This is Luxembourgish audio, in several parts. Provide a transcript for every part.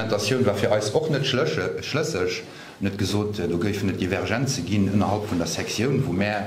D'Argumentatioun war fir eis och net schlësseg. En huet gesot, do géifen et Divergenze ginn ënnerhalb vun der Sektioun, wou mär,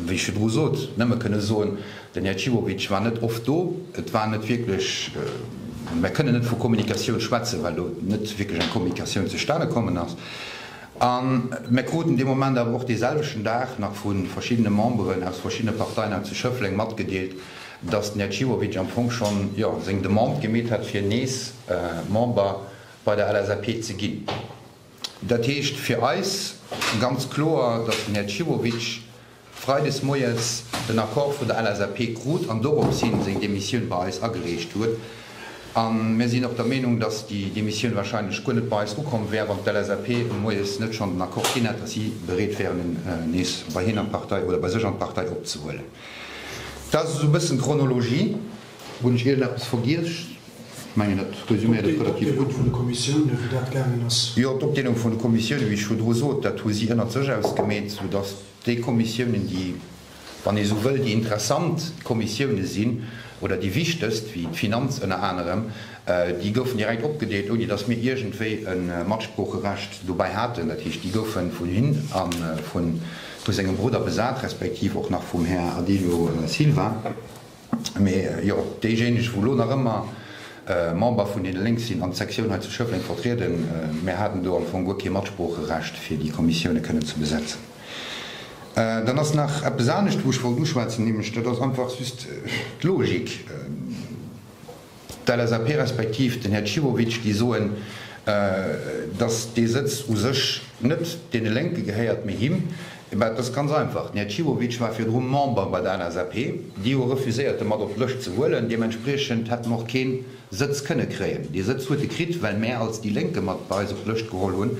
wéi ech virdru sot, nëmme kënne soen, den Här Cibovic war net oft do, et war net wierklech, mär kënnen net vu Kommunikatioun schwätzen, well do net wierklech eng Kommunikatioun zustane kommen ass. A mär kruten dee Moment awer och deeselwechten Dag nach vu verschiddene Memberen aus verschiddene Parteien hei zu Schëffleng matgedeelt, datt den Här Ciwovic am Fong schonn, jo, seng Demande gemeet hat, fir nees Member bei der LSAP ze ginn. Dat heescht fir eis ganz kloer, datt den Här Ciwovic freides moies den Accord vun der LSAP krut an doropshin seng Demissioun bei eis agereecht huet. A mir sinn och der Meenung, datt déi Demissioun wahrscheinlech guer net bei eis ukomm wär, wann d'LSAP moies net schonn den Accord ginn hätt, datt si bereet wäeren, en nees bei hien an d'Partei oder bei sech an d'Partei opzehuelen. Dat ass esou e bëssen d'Chronologie. Hunn ech iergendeppes vergiess? Ech mengen, dat resüméiert et relativ gutt. D'Opdeelung vun de Kommissioune, wéi dat gaangen ass. Jo, d'Opdeelung vun de Kommissioune, wéi ech virdru sot, dat hu si ënnert sech ausgemeet, soudatt déi Kommissiounen, déi, wann ee esou wëll, déi interessant Kommissioune sinn oder déi wichtegst, wéi d'Finanz ënner anerem, déi goufen direkt opgedeelt, ouni datt mir iergendwéi e Matsproocherecht dobäi haten. Dat heescht, déi goufe vun hinn a vun. Vu sengem Brudder besat, respektiv och nach vum Här Adilho Silva. Mee jo, déijéineg, wou elo nach ëmmer Member vun deene Lénk sinn an d'Sektioun hei zu Schëffleng vertrieden, mär haten do am Fong guer kee Matsproocherecht, fir déi Kommissiounen kënnen ze besetzen. Dann ass nach eppes anescht, wou ech wollt uschwätzen, nämlech, dat ass einfach just d'Logik. D'LSAP respektiv den Här Cibovic, déi soen, datt dee Sëtz u sech net deene Lénke gehéiert, mee him. Mä et ass ganz einfach, den Här Cibovic war virdru Member bei der LSAP. Déi hu refuséiert, e mat op d'Lëscht ze huelen. Deementspriechend hätt en och keen Sëtz kënne kréien. Dee Sëtz huet e kritt, well mär als déi Lénke mat bei eis op d'Lëscht geholl hunn.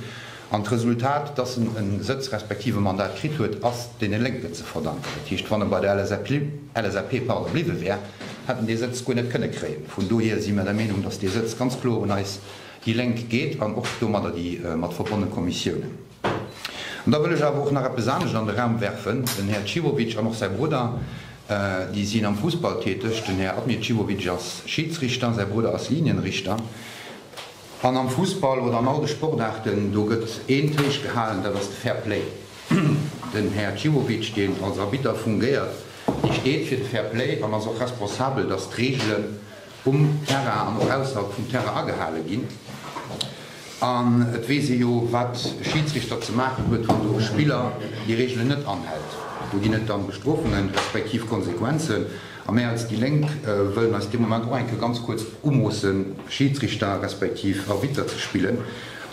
An d'Resultat, dass en e Sëtz respektiv e Mandat kritt huet, ass deene Lénken ze verdanken. Dat heescht, wann e bei der LSAP bliwwe wär, hätt en dee Sëtz guer net kënne kréien. Vun dohier si mer der Meenung, dass dee Sëtz ganz kloer un eis déi Lénk geet an och domadder déi mat verbonne Kommissiounen. An da wëll ech awer och nach eppes anescht an de Raum werfen. Den Här Cibovic an och säi Brudder, déi sinn am Fussball täteg. Den Här Admir Cibovic ass Schiedsrichter, säi Brudder ass Linienrichter. An am Fussball oder an all de Sportaarten, do gëtt eent héich gehalen, dat ass de Fair Play. Den Här Ciwovic, deen als Arbitter fungéiert, dee steet fir de Fair Play an ass och responsabel, dass d'Reegelen um Terrain an och ausserhalb vum Terrain agehale ginn. An et weess ee jo, wat e Schidsrichter ze maachen huet, wann do e Spiller déi Reegelen net anhält. Do ginn et dann Bestrofungen, respektiv Konsequenzen. A mär als déi Lénk wëllen eis dee Moment och eng Kéier ganz kuerz umoossen, Schiedsrichter respektiv Arbitter ze spillen.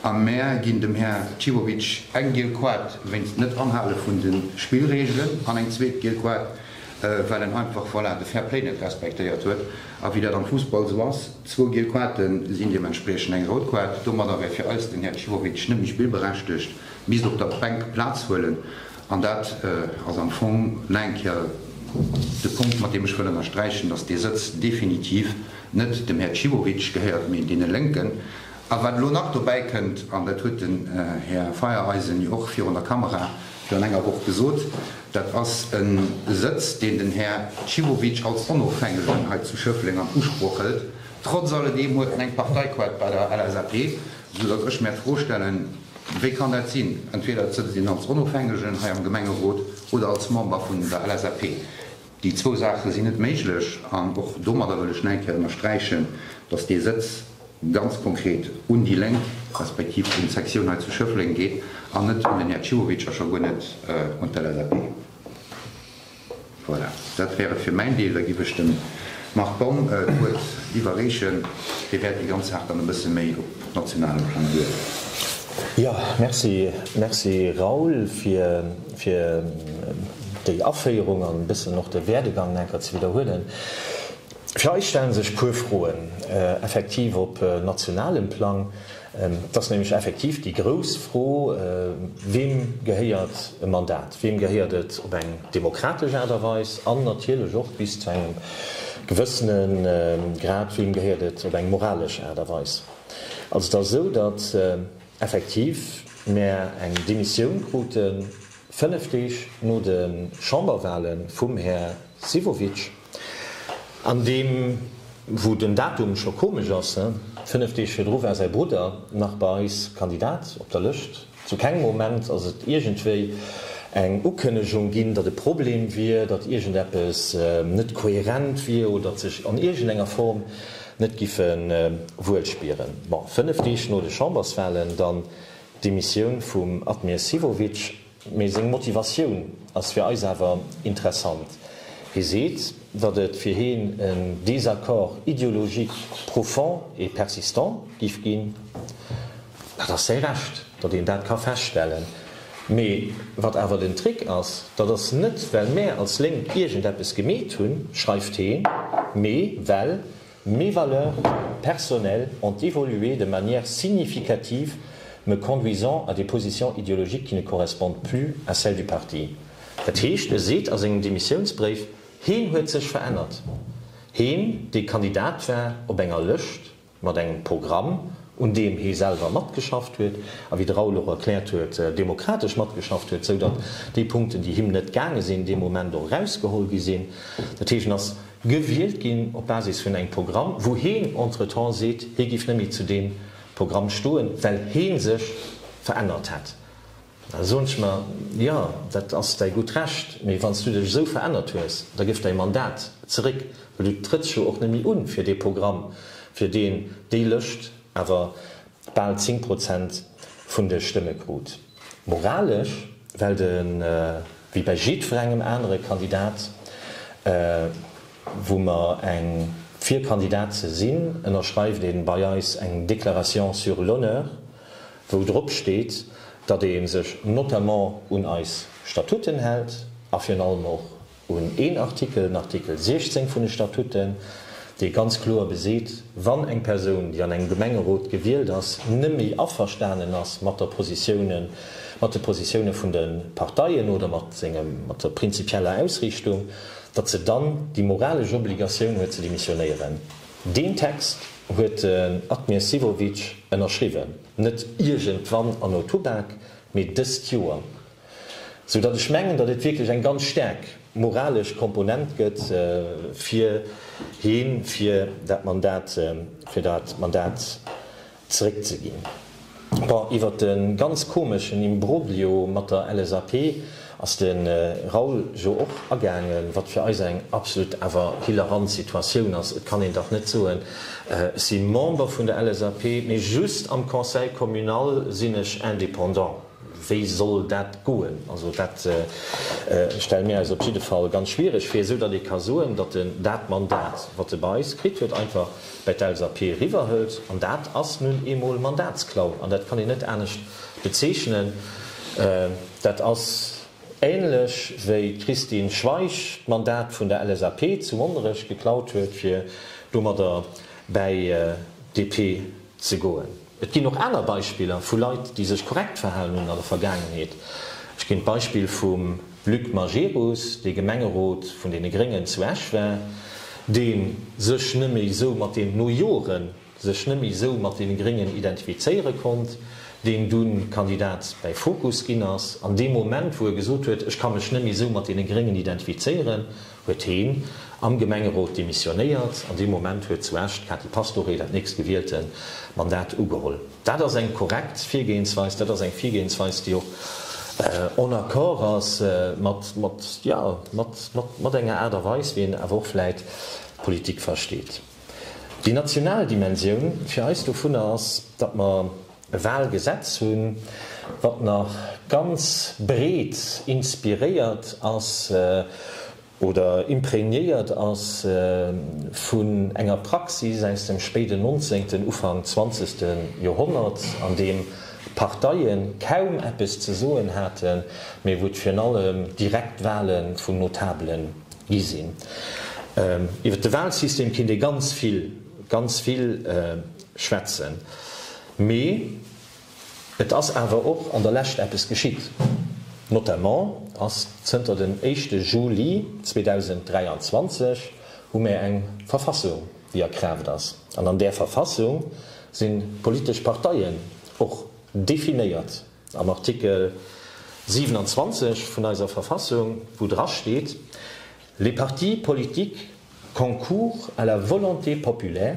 A mär ginn dem Här Cibovic eng giel Kuart wéinst Net-Anhale vun de Spillregelen an eng zweet giel Kuart, well en einfach, voilà, de Fair-Play net respektéiert huet. A wéi dat am Fussball esou ass, zwou giel Kuarte sinn deementspriechend eng rout Kuart. Domadder wär fir eis den Här Cibovic net méi spillberechtegt, misst op der Bänk Plaz huelen. An dat ass am Fong nach eng Kéier de Punkt, mat deem ech wëll ënnersträichen, dass dee Sëtz definitiv net dem Här Cibovic gehéiert, mee deene Lénken. A wat elo nach dobäikënnt, an dat huet den Här Feiereisen jo och virun der Kamera virun enger Woch gesot, dat ass e Sëtz, deen den Här Cibovic als Onofhängegen hei zu Schëffleng an Usproch hëlt, trotz alledeem huet en eng Parteiquote bei der LSAP. Sou datt ech mär d'Fro stellen, Wéi kann dat sinn? Entweder sëtzt een als Onofhängegen hei am Gemengerot oder als Member vun der LSAP. Déi zwou Saache sinn net méiglech. An och domadder wëll ech nach eng Kéier ënnersträichen, datt dee Sëtz ganz konkret un déi Lénk respektiv un d'Sektioun hei zu Schëffleng geet an net un den Här Ciuhovic a scho guer net un d'LSAP. Voilà, dat wär et fir mäin Deel. Da giff ech dem Marc Baum d'Wuert iwwerreechen. Dee wäert déi ganz Saach dann e bësse méi op nationalem Plang duerleeën. Jo, Merci, Merci, Raoul, fir, fir déi Aféierung an e bëssen och de Werdegang nach enker ze widderhuelen. Vläicht stellen sech e puer Froen effektiv op nationalem Plang. Et ass nämlech effektiv déi grouss Fro, Weem gehéiert e Mandat? Weem gehéiert et op eng demokratesch Aart a Weis? An natierlech och bis zu engem gewëssene Grad, Weem gehéiert et op eng moralesch Aart a Weis? Also et ass esou, datt effektiv mär eng Demissioun krute fënnef Deeg no de Chamberwale vum Här Sivovic, An deem, wou den Datum scho komesch ass, hä? Fënnef Deeg virdru war säi Brudder nach bei eis Kandidat op der Lëscht. Zu kengem Moment ass et iergendwéi eng Ukënnegung ginn, datt e Problem wier, datt iergendeppes net kohärent wier oder d'sech an iergendenger Form net giffe wuel spieren. Bon, fënnef Deeg no de Chamberswalen dann d'Demissioun vum Admir Sivovic. Mee seng Motivatioun ass fir eis awer interessant. Hie seet, datt et fir hien en Désaccord ideologique profond et persistant géif ginn. Dat ass säi Recht, datt een dat ka feststellen. Mee wat awer den Trick ass, dat ass net well mär als Lénk iergendeppes gemeet hunn, schreift heen, mee well Mes valeurs personnelles ont évolué de manière significative me conduisant à des positions idéologiques qui ne correspondent plus à celles du parti. Dat heescht, e seet a sengem Demissiounsbréif, heen huet sech verännert. Heen, dee Kandidat war op enger Lëscht mat engem Programm, un deem hee selwer matgeschafft huet a wéi de Raoul och erkläert huet, demokratesch matgeschafft huet, sou datt déi Punkten, déi him net gaange sinn, dee Moment och erausgeholl gi sinn. Dat heescht, en ass Gewielt ginn op Basis vun engem Programm, wou heen entretemps seet, hee giff net méi zu deem Programm stoen, well heen sech verännert hätt. Da soen ech mer, jo, dat ass däi gutt Recht, mee wann s du dech esou verännert hues, da gëff däi Mandat zeréck, well du trëtts jo och net méi un fir dee Programm, fir deen déi Lëscht awer bal 10 Prozent vun de Stëmme krut. Moralesch, well de wéi bei jiddwerengem anere Kandidat, wou mer eng fir Kandidat ze sinn, ënnerschreift ee bei eis eng Déclaration sur l'honneur, wou drop steet, datt ee sech notamment un eis Statuten hält a virun allem och un een Artikel, den Artikel 16 vun de Statuten, dee ganz kloer beseet, wann eng Persoun, déi an engem Gemengerot gewielt ass, net méi averstanen ass mat der Positioune, mat de Positioune vun de Parteien oder mat sengem, mat der prinzipieller Ausriichtung, datt se dann déi moralesch Obligatioun huet ze demissionéieren. Deen Text huet den Admir Sivovic ënnerschriwwen, net iergendwann an Otubak, mee dëst Joer. Sou datt ech mengen, datt et wierklech eng ganz staark moralesch Komponent gëtt fir hien, fir dat Mandat, fir dat Mandat zeréckzeginn. Bon, iwwert de ganz komeschen Imbroglio mat der LSAP ass de Raoul jo och agaangen, wat fir eis eng absolut awer hilarant Situatioun ass. Et kann een dach net soen, ech si Member vun der LSAP, mee just am Conseil communal sinn ech Indépendant. Wéi soll dat goen? Also dat stelle mir eis op jidde Fall ganz schwiereg vir, esou datt ee ka soen, datt en dat Mandat, wat e bei eis kritt huet, einfach bei d'LSAP eriwwerhëlt. An dat ass nun eemol Mandatsklau an dat kann een net anescht bezeechnen. Dat ass änlech wéi d'Christine Schweich d'Mandat vun der LSAP zu Monnerech geklaut huet, fir domadder bäi d'DP ze goen. Et ginn och aner Beispiller vu Leit, déi sech korrekt verhalen hunn an der Vergaangenheet. Ech ginn d'Beispill vum Luc Majerus, dee Gemengerot vun deene Gréngen zu Esch war, dee sech nëmme esou mat deenen, no Jore sech nëmme esou mat deene Gréngen identifizéiere konnt, deen dunn Kandidat bäi Fokus ginn ass, an deem Moment, wou e gesot huet, ech ka mech nëmme esou mat deene Gréngen identifizéieren. huet heen am Gemengerot demissionéiert an dee Moment huet zu Esch d'Kati Pastoré dat nächst gewiehlte Mandat ugeholl. Dat ass eng korrekt Virgehensweis, dat ass eng Virgehensweis, déi och en accord ass mat, mat, jo, mat, mat, mat enger Aart a Weis, wéi een awer och vläit Politik versteet. Déi national Dimensioun fir eis dovunner ass, datt mer, e Wahlgesetz hunn, wat nach ganz breet inspiréiert ass oder imprégnéiert ass vun enger Praxis aus dem spéiden nonzéngten, Ufank zwanzegste Joerhonnert, an deem d'Parteie kaum eppes ze soen haten, mee wou et virun allem direkt Wahle vun Notabele gi sinn. Iwwer de Wahlsystem kinnt ee ganz vill, ganz vill schwätzen. Mee et ass awer och an der Lescht eppes geschitt. Notamment ass zënter dem éischte Juli 2023 hu mär eng Verfassung, déi a Kraaft ass. An an där Verfassung si politesch Parteien och definéiert am Artikel 27 vun eiser Verfassung, wou drasteet, Les partis politiques concourent à la volonté populaire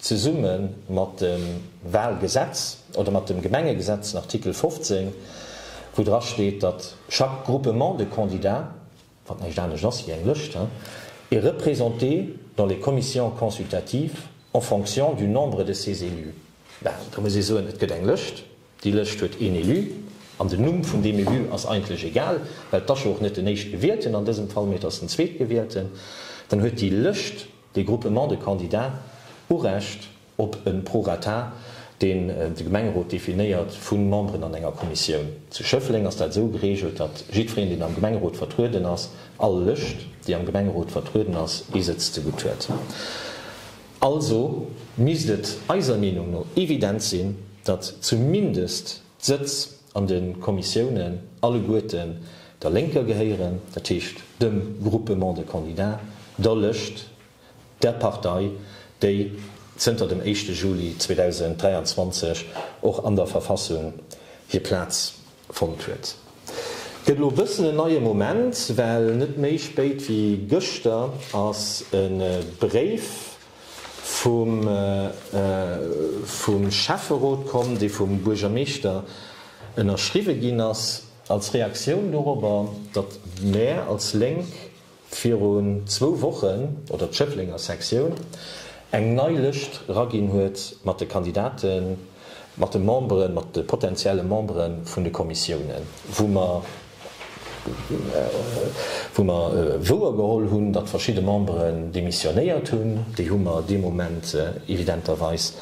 Zesumme mat dem Walgesetz oder mat dem Gemengegesetz, den Artikel 15, wou dra steet, datt chaque groupement de candidats, wat näischt anescht ass wéi eng Lëscht, est représenté dans les commissions consultatives en fonction du nombre de ses élus. Da muss ee soen, et gëtt eng Lëscht, déi Lëscht huet een Élu, an den Numm vun deem Élu ass eigentlech egal, well et ass jo och net den Éischtgewielten an dësem Fall, mee et ass den Zweetgewielten, dann huet déi Lëscht, De Groupement de candidats, Urecht op e Prorata, deen de Gemengerot definéiert, vu Memberen an enger Kommissioun. Zu Schëffleng ass dat esou gereegelt, datt jiddwereen, deen am Gemengerot vertrueden ass, all Lëscht, déi am Gemengerot vertrueden ass, ee Sëtz zegutt huet. Also misst et eiser Meenung no evident sinn, datt zumindest d'Sëtz, an de Kommissiounen alleguerten der Lénker gehéieren, dat heescht dem Groupement de candidats, der Lëscht, der Partei, déi zënter dem éischte Juli 2023 och an der Verfassung hir Plaz fonnt huet. Et gëtt elo e bëssen en neie Moment, well net méi spéit wéi gëschter ass e Bréif vum Schäfferot komm, dee vum Buergermeeschter ënnerschriwwe ginn ass, als Reaktioun dorobber, datt mär als Lénk virun zwou Wochen, oder d'Schëfflenger Sektioun, eng nei Lëscht eraginn huet mat de Kandidaten, mat de Memberen, mat de potentielle Membere vun de Kommissiounen, wou mer, Wou mer wouer geholl hunn, datt verschidde Memberen demissionéiert hunn, déi hu mer dee Moment evidenterweis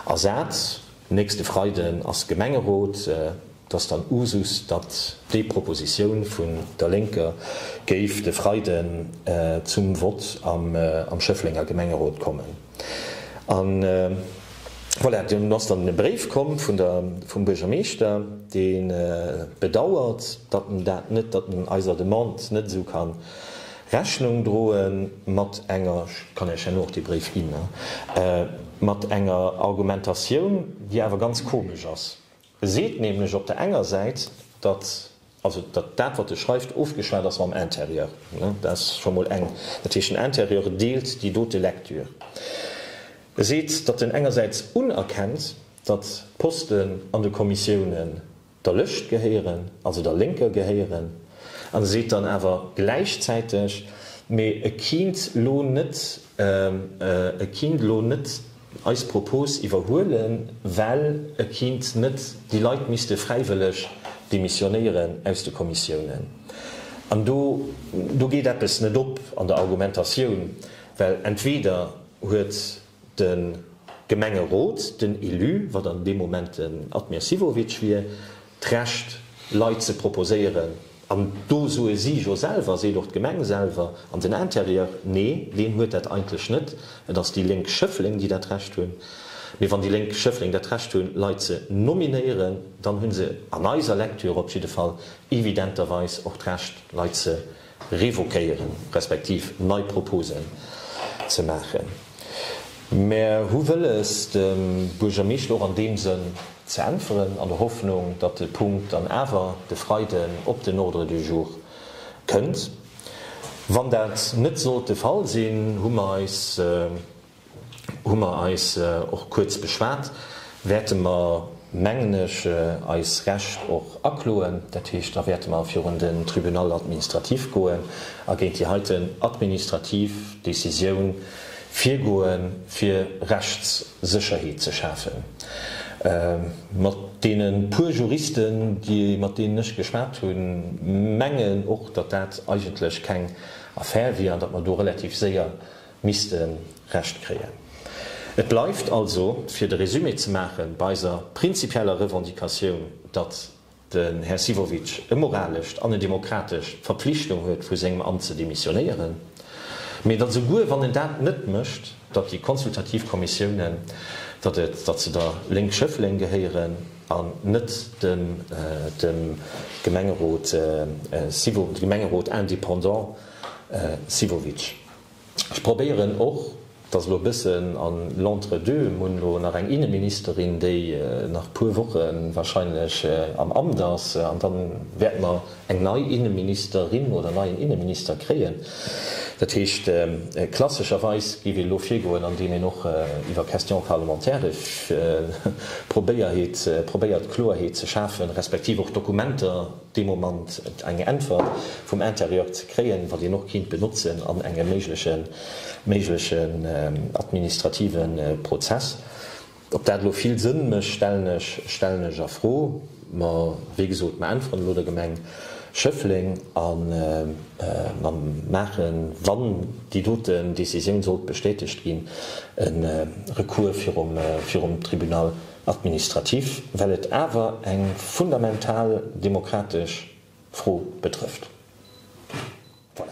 ersat. Nächste Freiden ass Gemengerot. Et ass dann Usus, datt déi Propositioun vun der Lénker géif de Freiden zum Vott am Schëfflenger Gemengerot kommen. An voilà, dunn ass dann e Bréif komm vun der, vum Buergermeeschter, dee bedauert, datt en dat net, datt en eiser Demande net esou ka Rechnung droe mat enger, ech kann Iech herno och dee Bréif ginn, mat enger Argumentatioun, déi awer ganz komesch ass. E seet nämlech op der enger Säit, datt also datt dat, wat e schreift, ofgeschwat ass mam Intérieur. Dat ass scho mol eng. Dat heescht, den Intérieur deelt déi dote Lektür. E seet, datt en engersäits unerkennt, datt Posten an de Kommissiounen der Lëscht gehéieren, also der Lénker gehéieren, an e seet dann awer gläichzäiteg, mee e kinnt lo net, e kinnt lo net, eis Propos iwwerhuelen, well e kinnt net, déi Leit misste fräiwëlleg demissionéieren aus de Kommissiounen. An do, do geet eppes net op an der Argumentatioun, well entweder huet de Gemengerot, den Élu, wat an deem Moment den Admir Sivovic wier, d'Recht Leit ze proposéieren, an do soe si jo selwer, seet och d'Gemeng selwer an den Intérieur, nee, deen huet dat eigentlech net, et ass déi Lénk Schëffleng, déi dat Recht hunn. Mee wann déi Lénk Schëffleng dat Recht hunn, Leit ze nominéieren, dann hu se an eiser Lektür op jidde Fall evidenterweis och d'Recht, Leit ze revoquéieren, respektiv nei Proposen ze maachen. Mär hu wëlles, dem Buergermeeschter och an deem Sënn ze äntweren, an der Hoffnung, datt de Punkt dann awer de Freiden op den Ordre du jour kënnt. Wann dat net sollt de Fall sinn, hu mer eis hu mer eis och kuerz beschwat, wäerte mer, mengen ech, eis Recht och akloen. Dat heescht, da wäerte mer virun den Tribunal administratif goen a géint déi heiten administrativ Décisioun virgoen, fir Rechtssécherheet ze schafen. Mat deene puer Juristen, déi, mat deenen ech geschwat hunn, mengen och, datt dat eigentlech keng Affär wier an datt mer do relativ séier misste Recht kréien. Et bleift also, fir de Resumé ze maache bei eiser prinzipieller Revendicatioun, datt den Här Sivovic e moralescht an e demokratescht d'Verpflichtung huet vu sengem Amt ze demissionéieren, mä datt esouguer wann en dat net mécht, datt déi konsultativ Kommissiounen, datt et, datt se der Lénk Schëffleng gehéieren an net dem dem Gemengerot Sivo, Gemengerot indépendant Sivovic. Ech probéieren och, dass elo e bëssen an l'entre-deux, mir hunn elo nach eng Inneministerin, déi nach e puer Woche wahrscheinlech am Amt ass, an da wäerte mer eng nei Inneministerin oder en neien Inneminister kréien. Dat heescht, klassescherweis géif een elo virgoen, andeem een och iwwer Questions parlementaires probéiert, Kloerheet ze schafen, respektiv och Dokumenter, dee Moment eng Äntwert vum Intérieur ze kréien, wat een och kéint benotzen an engem méiglechen méiglechen administrative Prozess. Ob dat elo vill Sënn mécht, stellen ech stellen ech a Fro. Mä wéi gesot, mer äntweren elo der Gemeng Schëffleng a mer maachen, wann déi doten Décisioun sollt bestätegt ginn, e Recours virum virum Tribunal. Administrativ, well et awer eng fundamental demokratesch Fro betrëfft. Voilà.